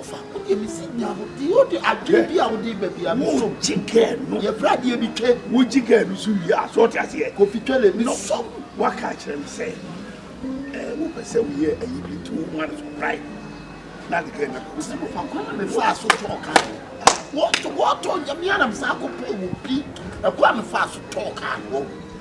ɔfaako deɛ me si nya no deɛ ɔde adwene bi a wode ba bi a me so wogye gɛɛ no yɛfrɛ adeɛ bi twɛ wogye gɛɛ no so wie a so ɔte aseɛ kofi twɛ le me so waka akyerɛ me sɛ ɛɛ wopɛ sɛ woyɛ ayi bi nti wo ho ade so prae na de gɛɛ no akɔ sɛ no faako na mefaa so tɔɔ kaa no wɔtɔ wɔtɔ nyame anam saa kɔpɛ wɔ bi ɛkɔ a mefaa so tɔɔ kaa no wɔ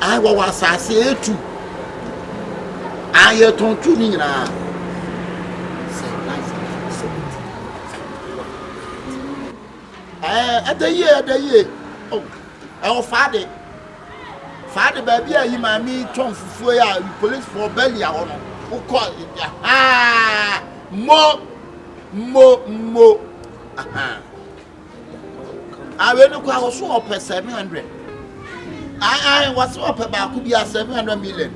Ae wɔwɔ asase a etu. Ae yɛtɔn tu ne nyinaa. Sɛ life no so sɛ Ɛɛ ɛda yie ɛda yie. Oh ɛwɔ faade. Faade baabi a yi maame tɔn fufuo yɛ a police for belly a hɔ no wokɔ ahaa mo mo mo ahaa. Awe no kwa wɔso ɔpɛ 700. Ae ae wɔse ɔpɛ baako bi a 700 million.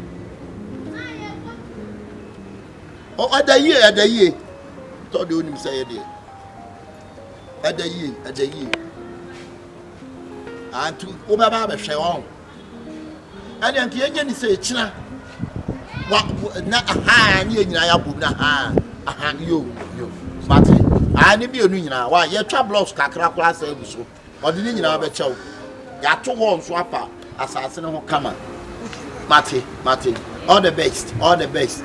Ɛda yie ɛda yie tɔ de onim sɛ yɛ deɛ. Ɛda yie ɛda yie. Antu wobɛba abɛhwɛ wɔn. ɛne nka yɛnyɛ ne sɛ ɛkyina wa na ahaa ne yɛ nyinaa yɛabom na ahaa aha yo yo mate aa ne mmienu nyinaa wa yɛtwa blocks kakra koraa sɛ agu so ɔde ne nyinaa bɛkyɛw yɛato hɔ nso apa asase no ho kama mate mate all the best all the best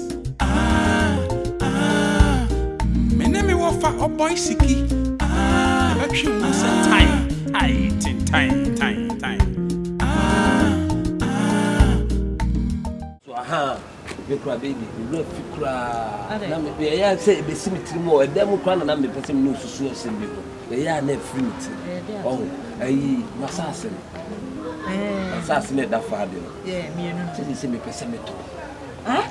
Ah, ah, mm. Me ne me wɔfa ɔbɔe siki. Ah, ɛbɛtwe wo sɛ tan. Ai, ten, tan, tan, tan. So aha, me kura baby, me wura fi koraa. Ade. Na me me ɛyɛ sɛ ebesi me tirim wɔ ɛdan mu koraa na na mepɛ sɛ me ne osusu asɛm bi ho. Na ɛyɛ a na afiri me tirim. Ɛyɛ de ato. Ɔho, ayi, masaase no. Ɛɛ. Masaase no a ɛda faa de no. Yeah, mmienu no. Sɛ sɛ mepɛ sɛ metɔ. Ah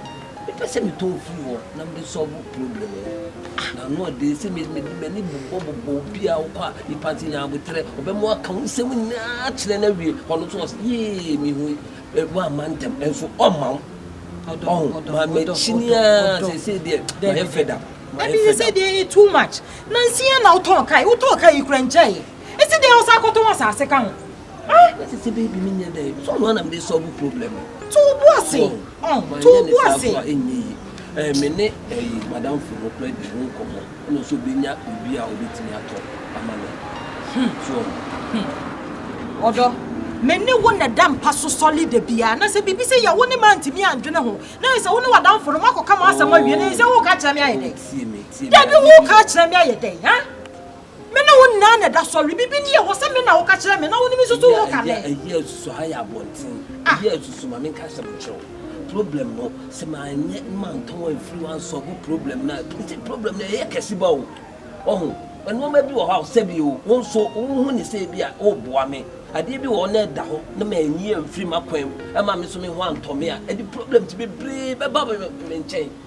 mepɛ sɛ metɔ firi hɔ na mede sɔlvo problem yi ah na ano ɔde sɛ mede m'ani bobɔ bobɔ obi a wokɔ a nipa nti nya aboterɛ ɔbɛma waka wo nsɛm nyinaa kyerɛ no awie ɔno nso ɔsɛ yee mehu woamma ntɛm ɛnso ɔmma wo ɔho ma makyini a sɛsei deɛ mayɛ fed up ɛbi sɛ sɛ deɛ too much nansi a na wotɔn kae wotɔn kae yi kura nkyɛe ɛsi deɛ wo sa akɔtɔn asase ka ho Ah! Na te sɛ baby me nyɛ dɛn. So noa na mede solve problem no. To wo bo ase. Oh, to wo bo ase. Manyɛ ne saa so a ɛnyɛ yie. Eh, me ne eh, madamfo no kora di ho nkɔmmɔ. Ɛna ɔsɛ ɔbɛnya biribi a ɔbɛtumi atɔ ama me. Hmm. So ɔho. Hmm. Ɔdɔ, me ne wo na ɛda mpa so sɔle da biara. Na sɛ biribi sɛ yɛ wo ne me antumi andwene ho. Na ayɛ sɛ wo ne w'adamfo no moakɔka mo asɛm awie. Na ayɛ sɛ woka akyerɛ me ayɛ dɛn? Tie me, tie me. Dabi, woka akyerɛ me ayɛ dɛn, ha? Me ne wo nyinaa na ɛda sɔre. Biribi ni yɛ hɔ sɛ me na woka kyerɛ me na wo ne me susu ho ka ne. Eyi a ɛsusu ha yɛ abɔnten. Eyi a ɛsusu ma menka asɛm nkyerɛ wo. Problem no, sɛ manyɛ na mantɔn amfiri wo ansɔlvo problem no a, ɛtumi sɛ problem no ɛyɛ kɛse ba o. Wahu? Nnoɔma bi wɔ hɔ a ɔsɛ bi o, wo nso wohu ne sɛ ebia woreboa me. Adeɛ bi wɔ hɔ na ɛda hɔ na manyi amfiri m'akwan mu amma me nso me ho antɔ me a, ɛde problems bebree bɛba me nkyɛn.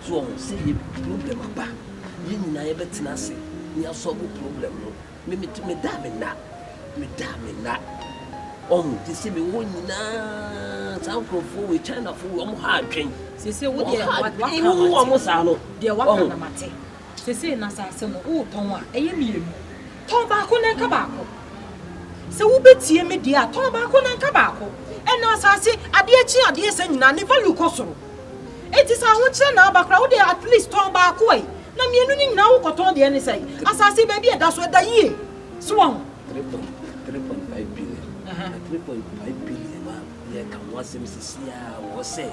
So wɔn sɛ yɛ problem aba yɛ nyinaa yɛ bɛ tena ase ne yɛ asɔbo problem no me me me da me na me da me na wɔn te sɛ me wɔ nyinaa saa nkorɔfoɔ wɔ china fo wɔn ha adwen sese wo deɛ waka na mate wɔn saa no deɛ waka na mate sese na saa asɛm no wo tɔn a ɛyɛ mmienu tɔn baako na nka baako sɛ wo bɛ tie me deɛ a tɔn baako na nka baako ɛna asase adeɛ kyi adeɛ sɛ nyinaa ne value kɔ soro. Enti sɛ ahokyerɛ na aba koraa wo deɛ at least tɔn baako ɛ na mmienu no nyinaa wo kɔtɔn deɛ ne sɛn? Asase baabi a ɛda so ɛda yie so wahu. Three point three point five billion na three point five billion a yɛka ho asɛm sisi a wɔ sɛ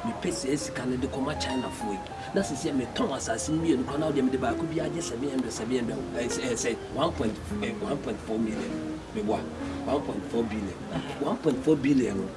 mepɛ saa sika no de kɔma China foɔ yi na sisi a metɔn asase mmienu koraa na wo deɛ mede baako bi agye seven hundred seven hundred ɛsɛ eh, ɛsɛ eh, one point eh, one point four million meboa one point four billion one point four billion no.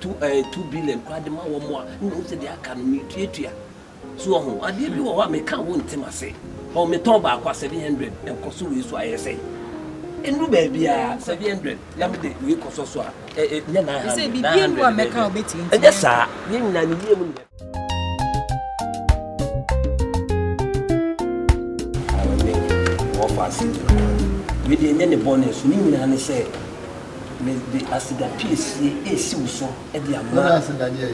Two ɛɛ two billion koraa de ma wɔn a ɛna ohu sɛ deɛ aka no metuatua. So ɔho adeɛ bi wɔ hɔ a meka a wonte m'ase. Ɔho metɔn baako a seven hundred ɛkɔ so wei so a ɛyɛ sɛn? Ɛnuru baabi a seven hundred na me de wei kɔ sɔ so a ɛ ɛ nyɛ nine hundred nine hundred bɛɛ bɛɛ ɛnyɛ saa yɛn nyinaa ne yie mu ne yɛ. Wɔfa aseda wei deɛ ɛnyɛ ne bɔne so ne nyinaa ne sɛ mede aseda piesie esi wo so de ama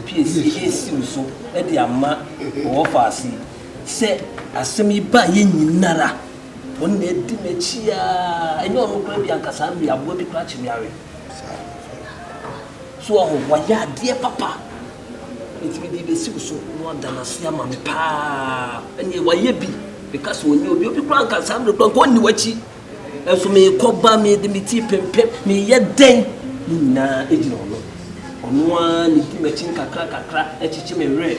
piesie esi wo so de ama wɔfa ase sɛ asɛm yi ba yɛ nyinara wɔn na edi m'akyi a ɛnyɛ ɔno kora bi ankasa mmea aboa bi kora kye me awe so ɔho wɔayɛ adeɛ papa. Na metumi de besi wo so na wada no ase ama me paa. Ɛnneɛ wayɛ bi. Meka sɛ ɔnyɛ obi. Obi koraa nka saa mmerɛ koraa nka ɔnni w'akyi. Nanso merekɔba, mede me ti repempem, mereyɛ dɛn, ne nyinaa gyina ɔno. Ɔno ara na ɛdi m'akyi nkakrankakra kyekye me werɛ.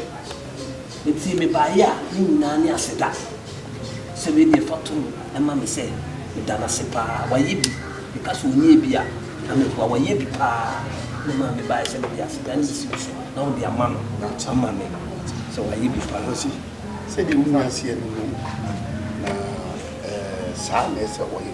Enti mebaeɛ a ne nyinaa ne aseda. Sɛ wei deɛ fa to mu ma me sɛ meda no ase paa. Wayɛ bi. Meka sɛ ɔnyɛɛ bi a, na mɛboa. Wayɛ bi paa. Na ɛmaa mebaeɛ sɛ mede aseda no sisi wo so na wode ama no ama me. Sɛ wayɛ bi paa. Ɔse, Sɛdeɛ wonya aseɛ no no, na saa na ɛsɛ ɔyɛ.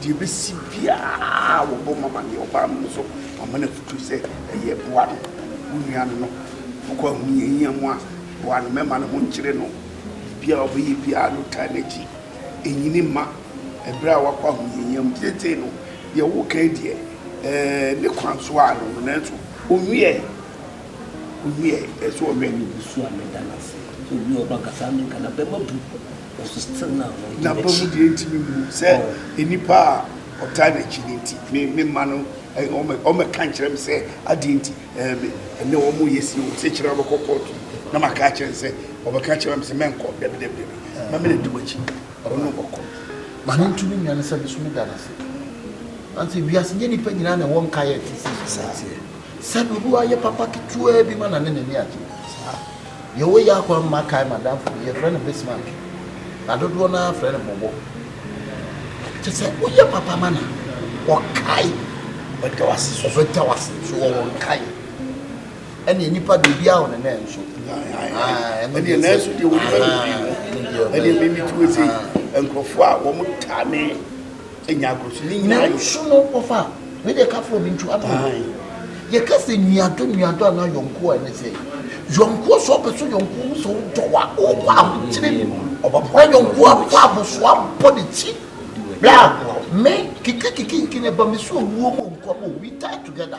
Deɛ ɛbɛsi biara wɔbɔ ma ma deɛ ɔbaa mu no so wɔma no afutuo sɛ ɛyɛ boa no wo nua no no wokɔ ahohiahia mu a boa no mɛma ne ho nkyere no biribiara ɔbɛyɛ biara no taa n'akyi ɛnyini mma ɛberɛ a wakɔ ahohiahia mu seesei no deɛ wokan deɛ ɛɛ ne kwan so a no no nanso ɔnwiɛ ɔnwiɛ ɛso ɔwɛ. Mebusua meda no ase sɛ obi a ɔba nkasa menkana bɛma bu N'aba mu deɛ ntumi mmu sɛ nnipa a ɔtaa n'akyi no nti me me mma no ɔmɛka nkyerɛ me sɛ adeɛ nti ɛnɛ wɔn yɛ si wɔn sɛ kyerɛ ɔbɛkɔ kɔɔto na maka akyerɛ no sɛ ɔbɛka kyerɛ me sɛ mɛnkɔ dabi dabi dabi ma me na di wakyi ɔno ɔkɔ ma ne ntumi nua no sɛ me so me da no ase ante wiase nyɛ nipa nyinaa na ɛwɔ nkaeɛ te sɛ sɛ obi wayɛ papa ketewaa bi ma na ne n'ani agye Deɛ ɔyɛ akwan mma kae m'adamfo bi, yɛfrɛ no Bismarck, na dodoɔ no ara frɛ no Bɔbɔ. Kyɛ sɛ woyɛ papa ma no a, ɔkae. Ɔda wo ase so. Ɔda wo ase so, ɔwɔ nkaeɛ. Ɛnneɛ nnipa deɛ obiara wɔ ne nan nso. Ɛnneɛ nanso deɛ wɔde bɛma pii no, ɛnneɛ mimi ti wɔ sei. Nkurɔfoɔ a wɔtaa me nya agorɔ so ne nyinaa yɛ so no wɔfa wei deɛ ka frɛ obi ntu ato yɛka sɛ nuadɔ nuadɔ anaa yɔnkoɔ a ɛne sɛ yɔnkoɔ sɛ ɔpɛ so yɔnkoɔ mu sɛ wodɔ a wokɔ ahokyere mu ɔbɛboa yɔnkoɔ afa abosoa bɔ ne ti bra me kikikikiki ne ba me so owuo mu nkɔm we die together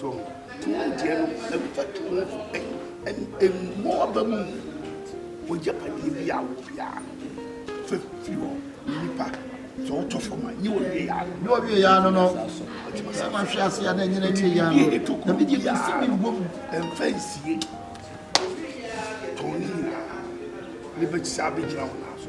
So tena deɛ no mfa to mu so ɛ mmɔ aba mu w'agyapadeɛ bi a wɔ biara no fa firi hɔ nnipa sɛ wotɔ fam a nyɛ wɔwie yaa no nyɛ wɔwie yaa no no sɛ mahwe ase a na ɛnyɛ n'awie yaa no na medeɛ mesi me wɔ mu ɛmfa nsie tɔn ne nyinaa ne bɛkyisa abɛgyina wo naa so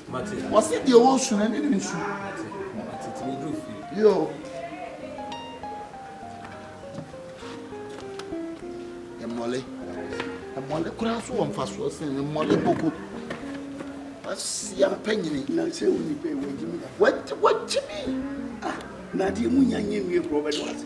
Mate. Wɔse deɛ ɔwɔ nsu no ɛne no nsu. Mate. Mate. Ti meduru fie. Yoo. Ɛmɔle. Ɛmɔle koraa so wɔ mfasoɔ sen ɛmɔle koko. Asia mpanyini. Na sɛ wo nipa yi wagyimi. Wagyimi. Ah, na adeɛ mu nya nyɛ nwie korɔ bɛde wase.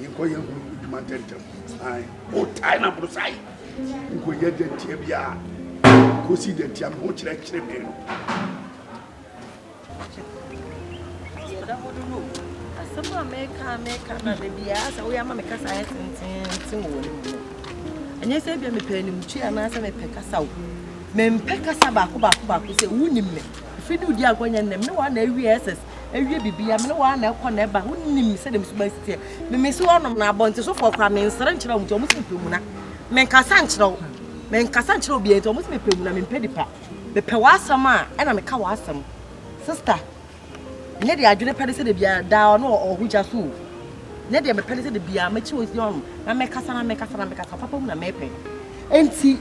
Yɛnkɔ yɛn ho adwuma ntɛntɛm. Ae. O tae na boro sae. Nkɔyɛ dɛ ntia bi a. Kɔsi dɛ ntia me ho kyerɛkyerɛ me no. Deɛ ɛda hɔ no no asɛm a meka meka na da biara sɛ woyɛ ama me kasa ayɛ tententen wɔ w'anim no ɛnyɛ sɛ bia mepɛ animtwe anaasɛ mepɛ kasa wo mempɛ kasa baako baako baako sɛ wonim me ɛfiri ne wodi agorɔ nyɛ nnɛm ne wɔa na awie ɛsɛs awie biribiara me ne wɔn na ɛkɔ na ɛba wonim sɛdeɛ me suban si teɛ memesi wɔnom na abɔntesofoɔ koraa mensere nkyerɛ wɔn nti wɔn si mepɛ mu na menkasa nkyerɛ wo menkasa nkyerɛ obiara nti wɔn si mepɛ mu na mempɛ nipa mepɛ w'asɛm a ɛna meka w'asɛm sista nyɛ deɛ adwene pɛ ne sɛ debiara daa ɔno ɔho gya so o nyɛ deɛ mepɛ ne sɛ debiara mɛkyi wɔn si wɔnom na mekasa na mekasa na mekasa papa mu na mepɛ Enti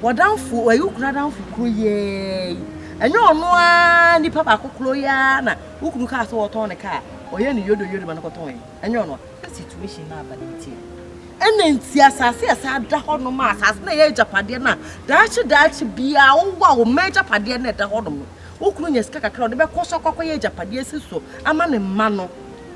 w'adamfo, w'ayukunu adamfo koro yi ara yi, ɛnyɛ ɔno ara nipa baako koro yi ara na wo kunu kaa sɛ ɔtɔn ne kaa, ɔyɛ ne yodoyodo ma no kɔtɔn ɛ? Ɛnyɛ ɔno a? Sɛ situation no aba no nti a. Ɛna nti asase a ɛsan da hɔ nom a, asase no a ɛyɛ agyapadeɛ no a, daakye daakye biara wowɔ a wo mma agyapadeɛ no a ɛda hɔ nom no, wo kunu nya sika kakra a ɔde bɛkɔ so akɔkɔyɛ agyapadeɛ asi so ama ne mma no.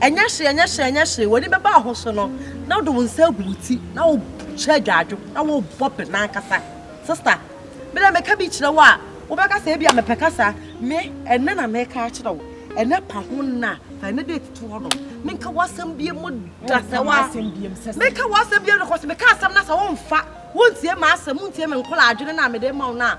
Ɛnyɛ hwee, ɛnyɛ hwee, ɛnyɛ hwee. W'ani bɛba wo ho so no, na wode wo nsa agu wo ti, na wohyɛ adwaadwo, na wobɔ bem ankasa. Sista, me deɛ meka bi kyerɛ wo a, wobɛka sɛ ebi a mepɛ kasa. Me, ɛnɛ na meka akyerɛ wo. Ɛnɛ pa ho nna, fa ɛnɛ date to hɔ nom. Menka w'asɛm biem mu da sɛ wa. Menka w'asɛm biem no, kɔsi meka asɛm na sɛ womfa, wontie m'asɛm, wontie me nkɔla adwene no a mede ma wo no a,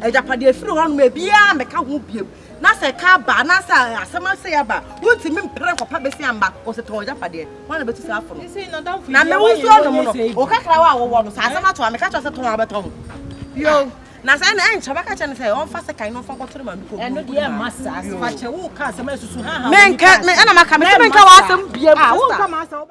Agyapade afiri hɔnom a ebiara mmɛka ho bio, na sɛ ɛka aba anaasɛ asɛm asɛe aba a, wontumi mpere nkɔpa besi amba, wɔsɛtɔn agyapadeɛ. Hwan na bɛtu saa fo no? Na me wo nsuo nom no, wo kakrawa a wowɔ no, sɛ asɛm ato a, meka kyerɛ sɛ tɔn a wobɛtɔn. Yo. Na sɛ ɛna ɛnkyɛ bɛka kyerɛ no sɛ ɔmfa sekan no mfa nkɔto no maame kɔn mu. Yo. Menka, ɛna maka, mese menka w'asɛm biam, sista.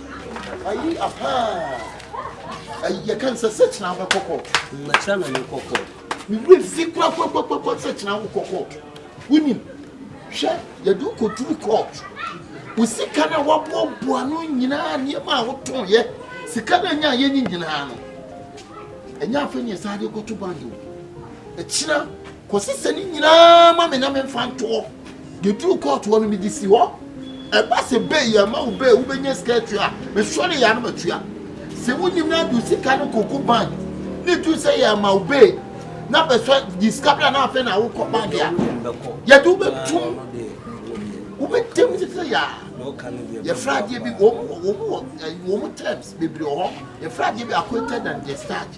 Ayi apaa. Ayi yɛ kan sɛ sɛ kyerɛ abɛ kɔkɔ. Mma kyerɛ na ne kɔkɔ. Me wura fi kura kɔ kɔ kɔ kɔ sɛ kyerɛ awo kɔkɔ. Wuni hwɛ yɛ du ko duru court. Wo sika na wabɔ bɔ ano nyinaa nneɛma a wotɔn yɛ. Sika na nya yɛ ni nyinaa no. Enya afɛ ne sade kɔto bank. Ekyina Kɔsi sɛ ne nyinaa ma me na memfa ntoɔ. Deɛ duru kɔɔto hɔ no mede si hɔ. Ɛba sɛ bɛyi ama wo bɛɛ wobɛnya sika atua a, mesɔre yɛ a na matua. Sɛ wonim no a de wo sika no kɔgu bank na ɛduru sɛ yɛ ama wo bɛɛ na bɛsɔ gye sika bra na afei na wokɔ bank a yɛde wobɛtum wobɛtam te sɛ yɛ a yɛfrɛ adeɛ bi wɔn wɔ wɔn terms bebree wɔ hɔ yɛfrɛ adeɛ bi acquainted and discharge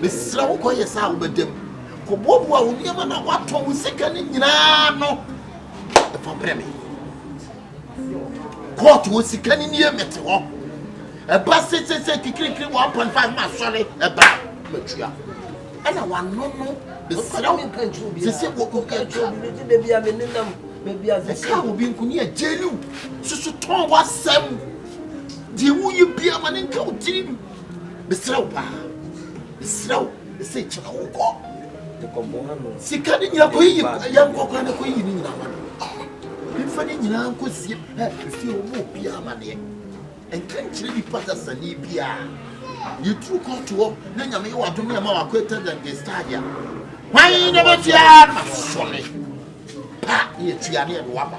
Mesrɛ wo, kɔyɛ saa a wobɛda mu. Kɔboaboa wo nneɛma na woatɔn wo sika no nyinaa ano fa brɛ me. Kɔɔto wɔ sika no nie mete hɔ. Ɛba se se se kikirikiri 1.5 ma sɔre ɛba matua. Ɛna wano no mesrɛ wo sese wɔ ɛka ɛka wɔ bi nkuni a gyeliw soso tɔn w'asɛm deɛ woyɛ bia ma ne nka wo tirim. mesrɛ wo paa mesrɛ wo ɛsɛ nkyɛka wo kɔ sika ne nyina kɔyiyi yɛnkɔkora ne kɔyiyi ne nyina ma no mfa ne nyinaa nkɔsie fie wɔ ma obiaa amaneɛ ɛnka nkyerɛ nipa sasane biaa yɛduru kɔɔto hɔ na nyame yɛ wadom ne ɛma wakɔ ɛtɛdɛnde stagea hwan na bɛtua no masɔre pa ne yɛtua ne ɛde waba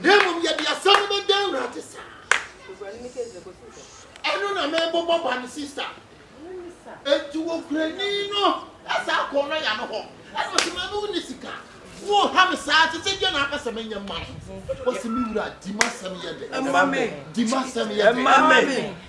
na mmom yɛde asɛm no bɛda awurade saa ɛno na mebobɔ ba no sista enti wɔkurani no ɛsɛ akɔ no ya no hɔ ɛna ɔsɛ ma me wo ne sika woha me saa te sɛ deɛ na apɛ sɛ menyɛ ma no ɔsɛ me wura di ma sɛm yɛ dɛ di ma sɛm yɛ dɛ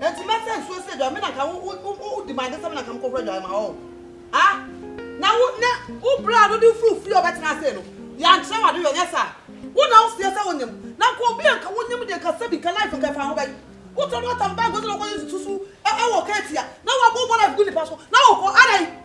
Enti mɛsɛ nsuo sɛ aduane, me na nka wo, wo, wo, wodi m'ade sɛ me na nka mekɔhoro aduane ma wo. Ha? Na wo, na wo bra no de firi fie a ɔbɛtena ase no, yɛankyerɛ wo ade yɔ, nyɛ saa? Wo na woseɛ sɛ wonim, na nka obi a nka wonim deɛ nka sɛbi nka life nka ɛfa ho bɛn? Wotɔ na wotam bag sɛ wokɔyɛ nsusu wɔ kɛɛti a, na woabɔ bɔ life gu nnipa so, na wokɔ, adɛn?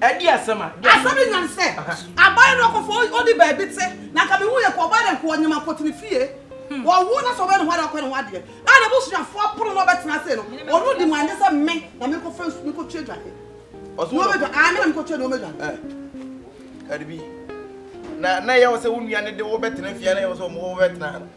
Ɛde asɛm a. Asɛm bi nyan sɛ, Aban no ɔkɔfo a odi baabi te, na anka mehu yɛ kɔ ɔbaa dɛ nkoa ɔnyem akɔte ne fie. Ɔwo na sɛ ɔbɛyɛ ne ho ade a ɔkɔyɛ ne ho adeɛ a n'abusuafoɔ apono na ɔbɛtena ase no, ɔno di mu a ɛnyɛ sɛ me na menkɔfa nsu menkɔtua adwadeɛ. Nnoɔma adwa ae me na menkɔtua nnoɔma adwadeɛ. Cardi B, Na na ɛyɛ wo sɛ wo nua no de wo bɛtena fie a na ɛyɛ wo sɛ ɔmo wɔ wo bɛtena ha no?